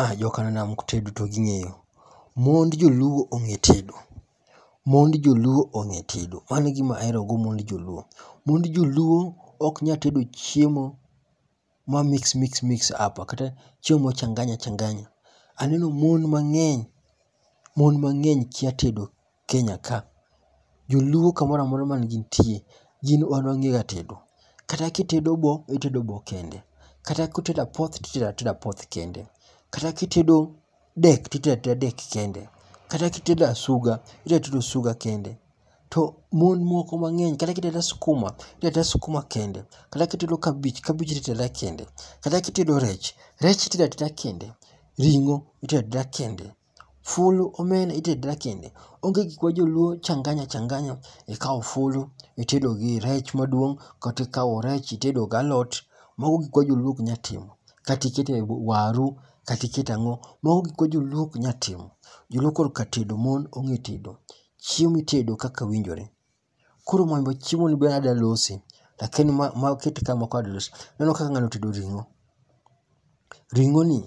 Ah, jokananam tedo to ging'eyo. Mond joluo ong'e tedo. Mond joluo ong'e tedo. Mano e gima ahero go mond joluo. Mond joluo ok nya tedo chiemo ma mix mix mix up kata chiemo ma changanya changanya. Aneno mon mang'eny, mon mang'eny kia tedo. Kenya ka, joluo kamoro amora ma gintie, gin wan wang'ega tedo. Kata kitedo bo, itedo bo kende. Kata kutedo apoth, titedo ateda apoth kende. Kata kitedo dek, titedo ateda dek kende. Kata kitedo asuga, itedo ateda osuga kende. To mon moko mang'eny kata kitedo ateda skuma, itedo ateda skuma kende. Kata kitedo kabich, kabich itedo ateda kende. Kata kitedo rech, rech itedo ateda kende. Ring'o itedo ateda kende. Fulu omena itedra kende. Onge gikwa joluo changanya changanya. Ikawo fulu itedo gi rech maduong' kata ikawo rech itedo gi alot. Mago gikwa joluo ok nyal timo. Kata iketo e waru kata iketo ang'o. Mago gikwa joluo ok nyal timo. Joluo korka tedo mon ong'e tedo. Chiemo itedo kaka winjore. Koro mambo chiemo ni be ada losi. Lakini ma, ma kete kama kwa ada losi. Neno kaka ng'ano tedo ring'o. Ring'o ni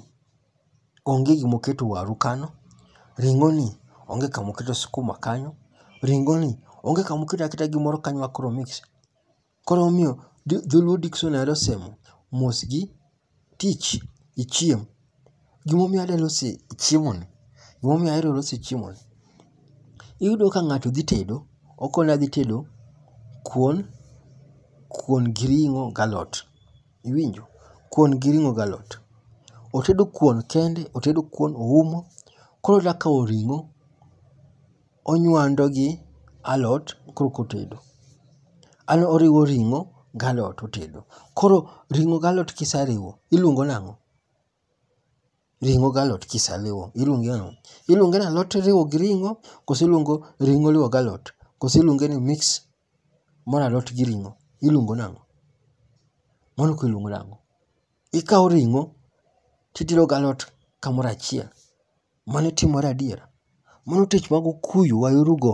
onge gima oketo waru kano. Ring'o ni onge kama oketo sukuma kanyo. Ring'o ni onge kama oketo aketa gimoro kanyo ma koro mix. Koro omiyo Dholuo Dictionary osemo mos gi tich gi chiemo. Gimomiyo adwa loso chiemoni, gimomiyo ahero loso chiemoni, iyudo ka ng'ato dhi tedo, okoni adhi tedo kuon, kuon gi ring'o galot. Iwinjo? Kuon gi ring'o galot. Otedo kuon kende, otedo kuon oumo, koro odwa kawo ring'o. onywando gi alot koro kotedo. An oriwo ring'o galot otedo. Koro ring'o galot kisariwo iluongo nang'o? Ring'o galot kisaliwo iluonge nang'o? Iluonge nalot iriwo gi ring'o kose iluongo ring'o iriwo galot kose iluonge ni mix Mor alot gi ring'o iluongo nang'o? Mor alot iluongo nang'o? Ikawo ring'o to itero gi alot kamoro achiel. Mano timore adier? Mano tich mag okuyu waerogo